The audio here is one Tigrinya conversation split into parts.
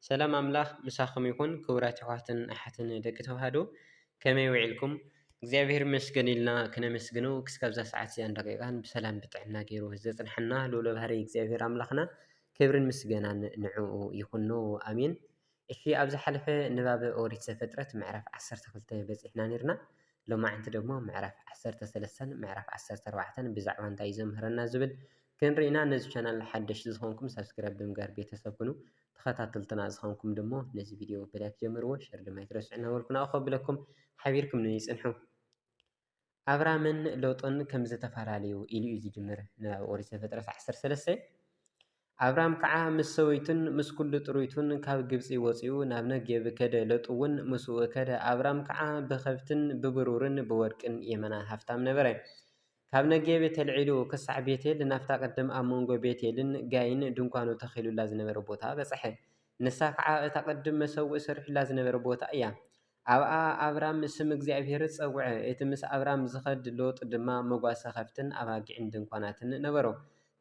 ሰላም ኣምላኽ ምሳኹም ይኹን ክቡራት የሕዋትን ኣሓትን ደቂ ተዋህዶ ከመይ ውዒልኩም እግዚኣብሔር ይመስገን ኢልና ክነመስግኖ ክስካብ እዛ ሰዓት እዚኣን ደቂቃን ብሰላም ብጥዕና ገይሩ ዘጽንሐና ልዑለ ባህሪ እግዚኣብሔር ኣምላኽና ክብርን ምስገናን ንዕኡ ይኹኖ ኣሜን። እሺ ኣብ ዝሓለፈ ንባብ ኦሪት ዘፍጥረት ምዕራፍ 12 በጺሕና ኔርና ሎማዕንቲ ደግሞ ምዕራፍ 13ን ምዕራፍ 14ን ብዛዕባ እንታይ እዩ ዘምህረና ዝብል ክንርኢ ኢና ነዚ ቻናል ሓደሽቲ ዝኾንኩም ሳብስክራይብ ብምግባር ቤተሰብ ኩኑ ተኸታተልትና ዝኾንኩም ደሞ ነዚ ቪድዮ ብላይክ ጀምርዎ ሸር ድማ ኣይትረስዑ እናበልኩ ናብኡ ከብለኩም ሓቢርኩም ንይ ጽንሑ ኣብራምን ሎጥን ከም ዝተፈላለዩ ኢሉ እዩ ዝጅምር ንባብ ኦሪት ዘፍጥረት ዓሰርተ ሰለስተ ኣብራም ከዓ ምስ ሰበይቱን ምስ ኩሉ ጥሩይቱን ካብ ግብፂ ወፂኡ ናብ ነጌብ ከደ ለጡ እውን ምስኡ ከደ ኣብራም ከዓ ብከብትን ብብሩርን ብወርቅን የመና ሃፍታም ነበረ ካብ ነጌቤ ተልዒሉ ኽሳዕ ቤቴል ናብታ ቕድም ኣብ መንጎ ቤቴልን ጋይን ድንኳኑ ተኺሉላ ዝነበረ ቦታ በጽሐ፣ ንሳ ኸዓ እታ ቕድም መሰውኢ ሰሪሑላ ዝነበረ ቦታ እያ። ኣብኣ ኣብራም ስም እግዚኣብሄር ጸውዐ፣ እቲ ምስ ኣብራም ዚኸድ ሎጥ ድማ መጓሰ ኸፍትን ኣባጊዕን ድንኳናትን ነበሮ።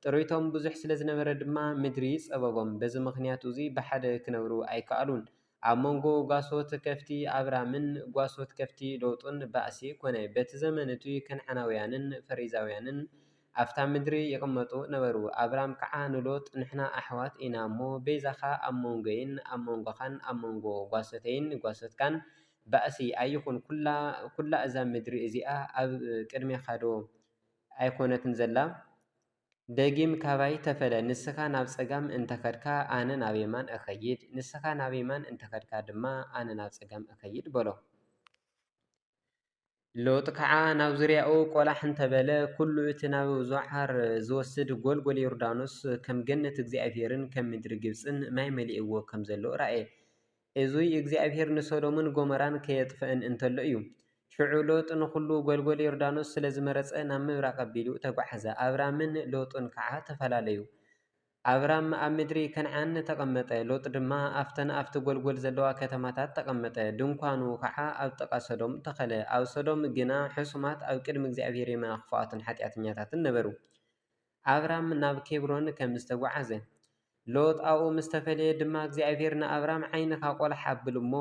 ጥሪቶም ብዙሕ ስለ ዝነበረ ድማ ምድሪ ጸበቦም፣ በዚ ምኽንያት እዚ ብሓደ ኪነብሩ ኣይከኣሉን። ኣብ መንጎ ጓሶት ከፍቲ ኣብራምን ጓሶት ከፍቲ ሎጡን ባእሲ ኮነ። በቲ ዘመን እቱይ ከንዓናውያንን ፈሪዛውያንን ኣብታ ምድሪ ይቕመጡ ነበሩ። ኣብራም ከዓ ንሎጥ ንሕና ኣሕዋት ኢና እሞ በይዛኻ ኣብ መንጎይን ኣብ መንጎኻን ኣብ መንጎ ጓሶተይን ጓሶትካን ባእሲ ኣይኹን ኩላ እዛ ምድሪ እዚኣ ኣብ ቅድሜኻዶ ኣይኮነትን ዘላ? ደጊም ካባይ ተፈለ፣ ንስኻ ናብ ጸጋም እንተ ኸድካ፣ ኣነ ናብ የማን እኸይድ፣ ንስኻ ናብ የማን እንተ ኸድካ ድማ፣ ኣነ ናብ ጸጋም እኸይድ በሎ። ሎጥ ከኣ ናብ ዙርያኡ ቈላሕ እንተ በለ፣ ኵሉ እቲ ናብ ዞዓር ዚወስድ ጐልጐል ዮርዳኖስ፣ ከም ገነት እግዚኣብሄርን ከም ምድሪ ግብጽን ማይ መሊእዎ ኸም ዘሎ ረኣየ። እዙይ እግዚኣብሄር ንሶዶምን ጎሞራን ከየጥፍእን እንተሎ እዩ። ሽዑ ሎጥ ንዅሉ ጐልጐል ዮርዳኖስ ስለ ዝመረጸ ናብ ምብራቕ ኣቢሉ ተጓዕዘ፣ ኣብራምን ሎጥን ከዓ ተፈላለዩ። ኣብራም ኣብ ምድሪ ከነዓን ተቐመጠ፣ ሎጥ ድማ ኣብተን ኣብቲ ጐልጐል ዘለዋ ከተማታት ተቐመጠ፣ ድንኳኑ ከዓ ኣብ ጥቓ ሶዶም ተኸለ። ኣብ ሶዶም ግና ሕሱማት ኣብ ቅድሚ እግዚኣብሄር የመና ኽፉኣትን ሓጢኣተኛታትን ነበሩ። ኣብራም ናብ ኬብሮን ከም ዝተጓዕዘ። ሎጥ ኣብኡ ምስ ተፈለየ ድማ እግዚኣብሄር ንኣብራም ዓይንኻ ቆላሕ ኣብል'ሞ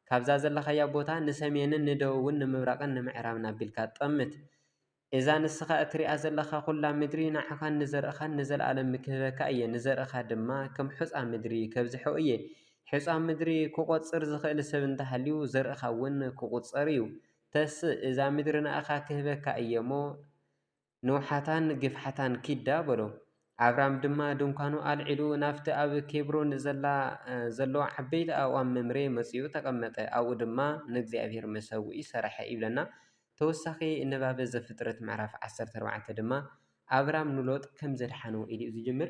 ካብዛ ዘለኻያ ቦታ ንሰሜንን ንደቡብን ንምብራቕን ንምዕራብን ኣቢልካ ጠምት። እዛ ንስኻ እትርእያ ዘለኻ ኹላ ምድሪ ንዓኻን ንዘርእኻን ንዘለኣለም ክህበካ እየ፣ ንዘርእኻ ድማ ከም ሑጻ ምድሪ ከብዝሖ እየ። ሑጻ ምድሪ ክቆጽር ዝኽእል ሰብ እንተሃልዩ ዘርእኻ'ውን ክቑጸር እዩ። ተስእ እዛ ምድሪ ንኣኻ ክህበካ እየ እሞ፣ ንውሓታን ግፍሓታን ኪዳ በሎ። ኣብራም ድማ ድንኳኑ ኣልዒሉ፣ ናብቲ ኣብ ኬብሮን ዘላ ዘሎ ዓበይቲ ኣእዋም መምሬ መጺኡ ተቐመጠ፣ ኣብኡ ድማ ንእግዚኣብሄር መሰውኢ ሰርሐ ይብለና። ተወሳኺ ንባብ ዘፍጥረት ምዕራፍ ዓሰርተ ኣርባዕተ ድማ፣ ኣብራም ንሎጥ ከም ዘድሓኖ ኢሉ'ዩ ዝጅምር።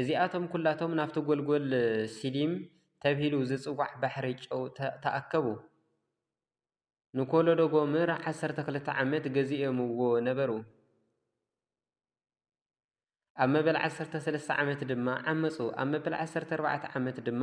እዚኣቶም ኵላቶም ናብቲ ጐልጐል ሲዲም ተብሂሉ ዚጽዋዕ ባሕሪ ጨው ተኣከቡ። ንኮሎዶ ጎምር ዓሰርተ ክልተ ዓመት ገዚኦምዎ ነበሩ፣ ኣብ መበል ዓሰርተ ሰለስተ ዓመት ድማ ዓመጹ፣ ኣብ መበል ዓሰርተ ኣርባዕተ ዓመት ድማ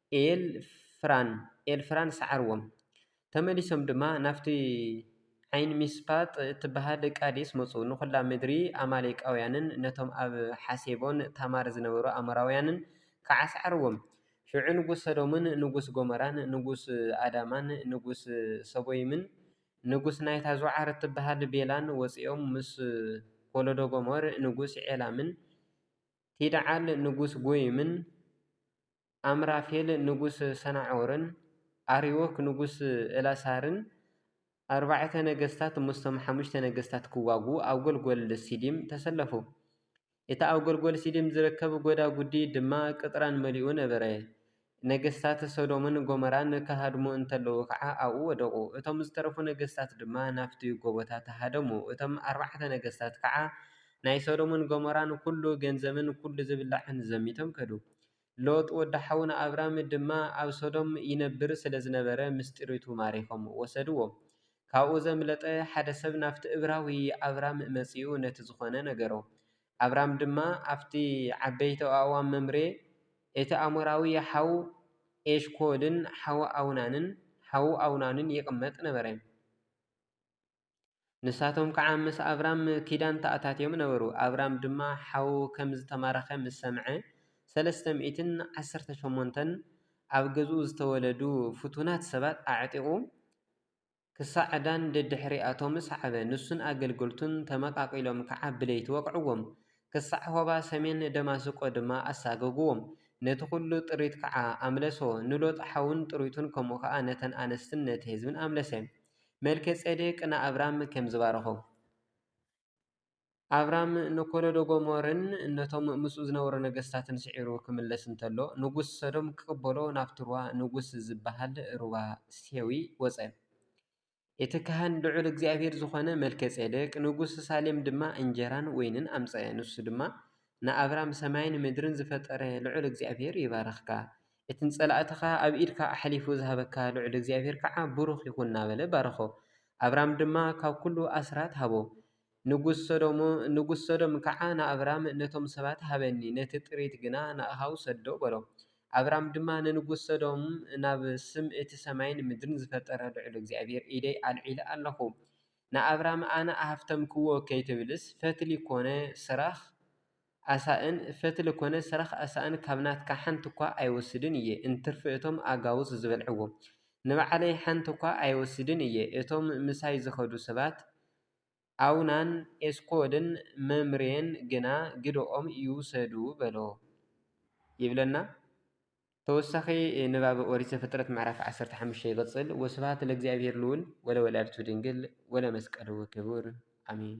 ኤልፍራን ሰዓርዎም። ተመሊሶም ድማ ናብቲ ዓይንሚስፓጥ እትበሃል ቃዴስ መጹ፣ ንዅላ ምድሪ ኣማሌቃውያንን ነቶም ኣብ ሓሴቦን ታማር ዝነበሩ ኣሞራውያንን ከኣ ሰዓርዎም። ሽዑ ንጉስ ሰዶምን ንጉስ ጎሞራን ንጉስ ኣዳማን ንጉስ ሰቦይምን ንጉስ ናይታ ዞዓር እትበሃል ቤላን ወጺኦም ምስ ኮሎዶጎመር ንጉስ ዔላምን ቲድዓል ንጉስ ጎይምን ኣምራፌል ንጉስ ሰናዖርን ኣርዮክ ንጉስ እላሳርን ኣርባዕተ ነገስታት ምስቶም ሓሙሽተ ነገስታት ክዋግኡ ኣብ ጐልጐል ሲዲም ተሰለፉ። እቲ ኣብ ጐልጐል ሲዲም ዝርከብ ጐዳጕዲ ድማ ቅጥራን መሊኡ ነበረ። ነገስታት ሰዶምን ጎሞራን ክሃድሙ እንከለዉ ኸኣ ኣብኡ ወደቑ። እቶም ዝተረፉ ነገስታት ድማ ናብቲ ጐቦታት ሃደሙ። እቶም ኣርባዕተ ነገስታት ከኣ ናይ ሰዶምን ጎሞራን ኵሉ ገንዘብን ኵሉ ዝብላዕን ዘሚቶም ከዱ። ሎጥ ወዲ ሓውና ኣብራም ድማ ኣብ ሶዶም ይነብር ስለ ዝነበረ ምስ ጥሪቱ ማሪኾም ወሰድዎ። ካብኡ ዘምለጠ ሓደ ሰብ ናብቲ እብራዊ ኣብራም መጺኡ ነቲ ዝኾነ ነገሮ። ኣብራም ድማ ኣብቲ ዓበይቲ ኣእዋም መምሬ እቲ ኣሞራዊ ሓው ኤሽኮልን ሓው ኣውናንን ይቕመጥ ነበረ። ንሳቶም ከዓ ምስ ኣብራም ኪዳን ተኣታትዮም ነበሩ። ኣብራም ድማ ሓዉ ከም ዝተማረኸ ምስ ሰምዐ፣ ሰለስተ ሚእትን ዓሰርተ ሸሞንተን ኣብ ገዝኡ ዝተወለዱ ፍቱናት ሰባት ኣዕጢቑ ክሳዕ ዳን ደድሕሪኣቶም ሰዓበ። ንሱን ኣገልገልቱን ተመቓቒሎም ከዓ ብለይቲ ወቕዕዎም፣ ክሳዕ ሆባ ሰሜን ደማስቆ ድማ ኣሳገግዎም። ነቲ ዅሉ ጥሪት ከዓ ኣምለሶ፣ ንሎጥ ሓዉን ጥሪቱን ከምኡ ኸኣ ነተን ኣንስትን ነቲ ህዝብን ኣምለሰ። መልከጼዴቅ ንኣብራም ከም ዝባረኾ፣ ኣብራም ንኮሎዶጎምርን ነቶም ምስኡ ዝነበሩ ነገስታትን ስዒሩ ክምለስ እንተሎ ንጉስ ሰዶም ክቅበሎ ናብቲ ሩባ ንጉስ ዝባሃል ሩባ ሴዊ ወጸ። እቲ ካህን ልዑል እግዚኣብሔር ዝኾነ መልከጼዴቅ ንጉስ ሳሌም ድማ እንጀራን ወይንን ኣምጸኤ። ንሱ ድማ ንኣብራም ሰማይን ምድርን ዝፈጠረ ልዑል እግዚኣብሔር ይባርኽካ። እቲ ንጸላእትኻ ኣብ ኢድካ ኣሕሊፉ ዝሃበካ ልዑል እግዚኣብሄር ከኣ ቡሩኽ ይኹን እናበለ ባረኾ። ኣብራም ድማ ካብ ኩሉ ኣስራት ሃቦ። ንጉስ ሶዶም ከኣ ንኣብራም ነቶም ሰባት ሃበኒ ነቲ ጥሪት ግና ንኣኻ ውሰዶ በሎ። ኣብራም ድማ ንንጉስ ሶዶም ናብ ስም እቲ ሰማይን ምድርን ዝፈጠረ ልዑል እግዚኣብሄር ኢደይ ኣልዒለ ኣለኹ ንኣብራም ኣነ ኣሃብተምክዎ ከይትብልስ ፈትሊ ኮነ ስራኽ ኣሳእን ፈትሊ ኮነ ሰረኽ ኣሳእን ካብ ናትካ ሓንቲ'ኳ ኣይወስድን እየ፣ እንትርፊ እቶም ኣጋውስ ዝበልዕዎ። ንባዕለይ ሓንቲ'ኳ ኣይወስድን እየ፣ እቶም ምሳይ ዝኸዱ ሰባት ኣውናን ኤስኮልን መምሬን ግና ግደኦም ይውሰዱ በሎ ይብለና ተወሳኺ ንባብ ኦሪት ዘፍጥረት ምዕራፍ ዓሰርተ ሓሙሽተ ይቕጽል። ወስብሓት ለእግዚኣብሔር ልዑል ወለወላዲቱ ድንግል ወለመስቀሉ ክቡር ኣሜን።